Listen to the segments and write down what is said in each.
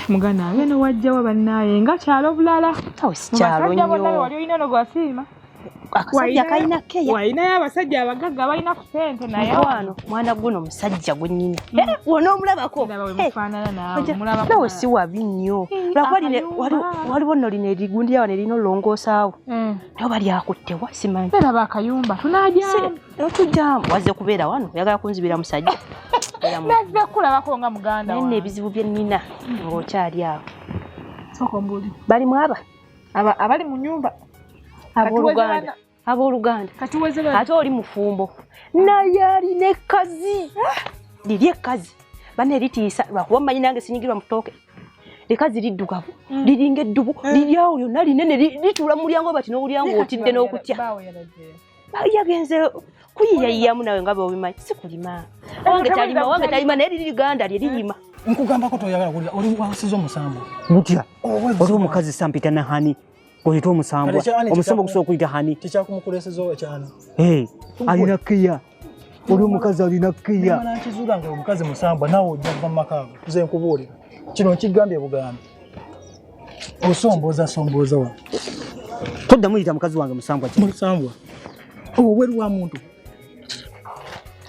mugana abe ne wajjawa bannaaye nga kyalo bulala mubasaja bonna wali olina no gwasiima akasajja kalina keya walinayo abasajja abagagga balina sente naye wano mwana guno musajja gwenyini mm. eh, wona omulabako nawe si wabi nnyo waliwo no lino erigundi yawa nerina olongosaawo mm. naye oba lyakuttewa simanyi otujjamu waze kubeera wano oyagala kunzibira musajja kulabako nga muganda naye nebizibu byenina ngaokyali awo bali mwaba abali mu nyumba aboluganda abooluganda ate oli mufumbo naye alina ekkazi ah! liri ekkazi bana eritiisa lwakuba mmanyi nange sinyigirwa mutooke likazi liddugavu mm. liringa eddubu eh. liryawo lyonna linene lituula mu mulyango bati n'obulyango otidde n'okutya yagenze kuyiyayiyamu nawe nga bweobimanyi sikulima eh, wange talima wange talima naye liri liganda lye lirima eh. nkugambako toyagala kulira oli wasiza omusango mutya oli omukazi sampita nahani oyita omusambwa omusambwa gusobola okuyita hani tekyakumukulesezo ekyani eh, alina kiya oli omukazi alina kiya nakizuula nga omukazi musambwa nawe ojja kuva mumakaago nze nkubuulira kino nkigambye bugambi osombooza sombooza wa toddamu yita mukazi wange musambwa musambwa obweru wa muntu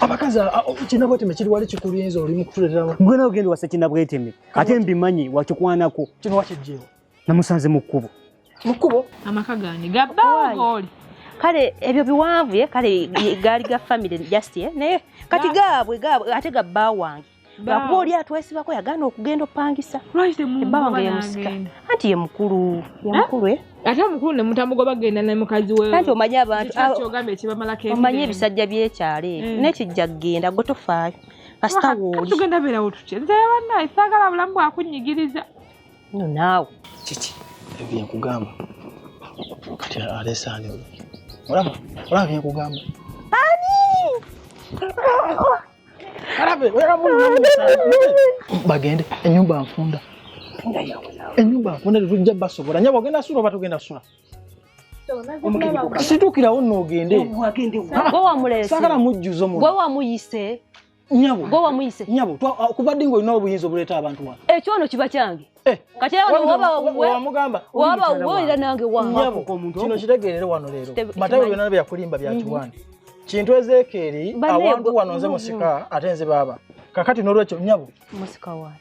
abakazi kinabweteme kiri wali kikulinza oli mukutuletera gwe nawe genda wasa kinabweteme ate mbimanyi wakikwanako kino wakijjeewo namusanze mu kkubo mu kkubo amaka gange gabbaagooli kale ebyo biwanvu ye kale gaali ga famire just ye naye kati gaabwe gaabwe ate gabbaa wange lwakuba oli atwesibako yagana okugenda opangisa ebbawa nga yemusika anti ye mukulu yemukulu eh? eh? ate mukulu nemutamugoba genda ne mukazi we anti omanyi abantu omanyi ebisajja byekyalo ebyo eh. nekijja kugenda gwe tofaayo kasita wooli tugenda beerawo tutya nze banaye saagala bulamu bwakunyigiriza no naawe kiki ebye nkugamba kati alesaani oyo olaba olaba bye nkugamba ani alabe bagende enyumba nfunda enyumba nfunda tetujja basobola nyabo ogenda sula oba tugenda sula situkirawo noogende sagala mujjuzo gwe wamuyise nyabo gwe wamuyise nyabo uh, kuva ddi ng'olina obuyinza obuleeta abantu wano ekyo ono kiba kyange eh. kati wabawamugamba wabawulira nange wankino kitegeerere wano leero matayo byonna bye yakulimba byatuwani mhm. kintu ezeekeeri awantu wano nze musika ate nze baaba kakati n'olwekyo nyabo musika wani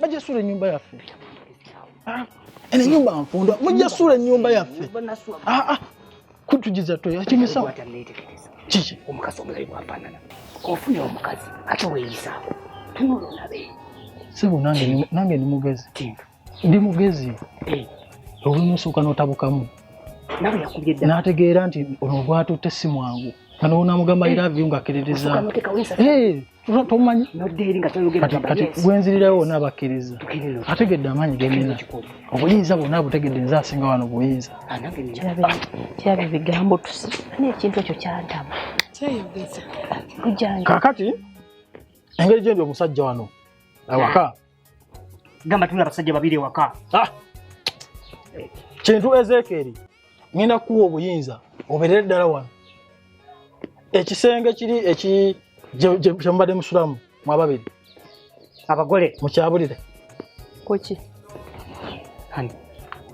bajja suula ennyumba yaffe ah, eno enyumba nfundwa mujja suula ennyumba yaffe ah, ah. kutugiza toyakimisawo kiki omukazi omulayi bwafaanana ofuna omukazi ate weeyisawo tunula olabe sebo nange ndi mugezi ndi mugezi eh. olumu osooka n'otabukamu n'ategeera nti ono gwatutte si mwangu kano onamugamba iravi nga akiririza tomanyi nodda eri nga toyogerakati gwenzirirawo wona abakkiriza ategedde amaanyi genina obuyinza bwona butegedde nze asinga wano buyinza kiraba ebigambo tusi naye ekintu ekyo kyantama kakati engeri gyendi omusajja wano awaka gamba tuna abasajja babiri ewaka ah! kintu ezekeeri ngenda kukuwa obuyinza oberere ddala wano ekisenge kiri eki kyemubadde musulamu mwababiri abagole mukyabulire kuki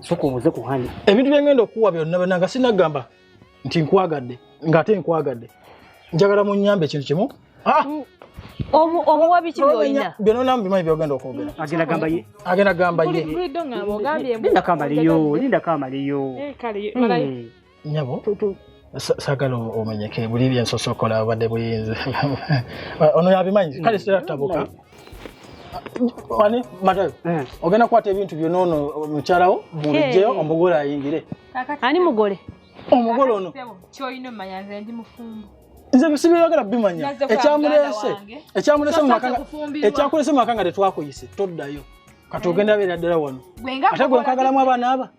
soka obuze ku hani ebintu byengenda okukuwa byonna bananga sinagamba nti nkwagadde ng'ate nkwagadde njagala munyambe ekintu kimu ah! mm. omuwa biki byolina byonona mubimanyi byogenda okwogera agenda gamba ye agenda gamba ye linda kamaliyo linda kamaliyo eh, hmm. nyabo sagala omenyeke buli byensosokola obadde buyinzi ono yabimanyi kale sitera tabuka wani matayo eh. ogenda kukwata ebintu byona ono mukyalawo mubijjeyo omugole ayingire ani mugole omugole ono kyolina omanya nze ndi mufumbo nze bisibyagala bimanya ekyamulese ekyamulese ekyakulese mu maka nga tetwakuyise toddayo kati ogenda beera ddala wano ate gwe nkagalamu abaana aba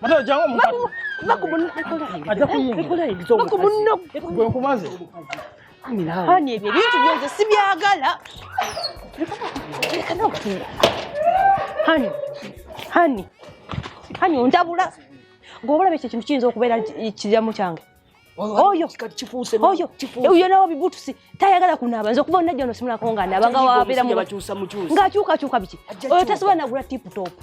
Mata jangu mukatu. Bako munno ekola. Aja kuyingira. Ekola ebizo. Bako munno. Gwe nkumaze. Hani ebyo ebintu byonze sibyagala. Hani. Hani. Hani ondabula. Gwe obulabe ekyo ekintu kiyinza okubeera kiramu kyange. Oyo kifuuse oyo oyo nawo bibutusi tayagala kunaaba nze okuba onajja ono simulako nga naaba nga wabeera mu ng'akyukakyuka biki oyo tasobola nagula tipu topu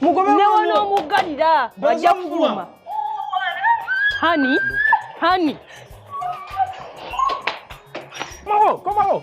mugobe newonoomuggalira ajja kufuluma hani hani mawo komawo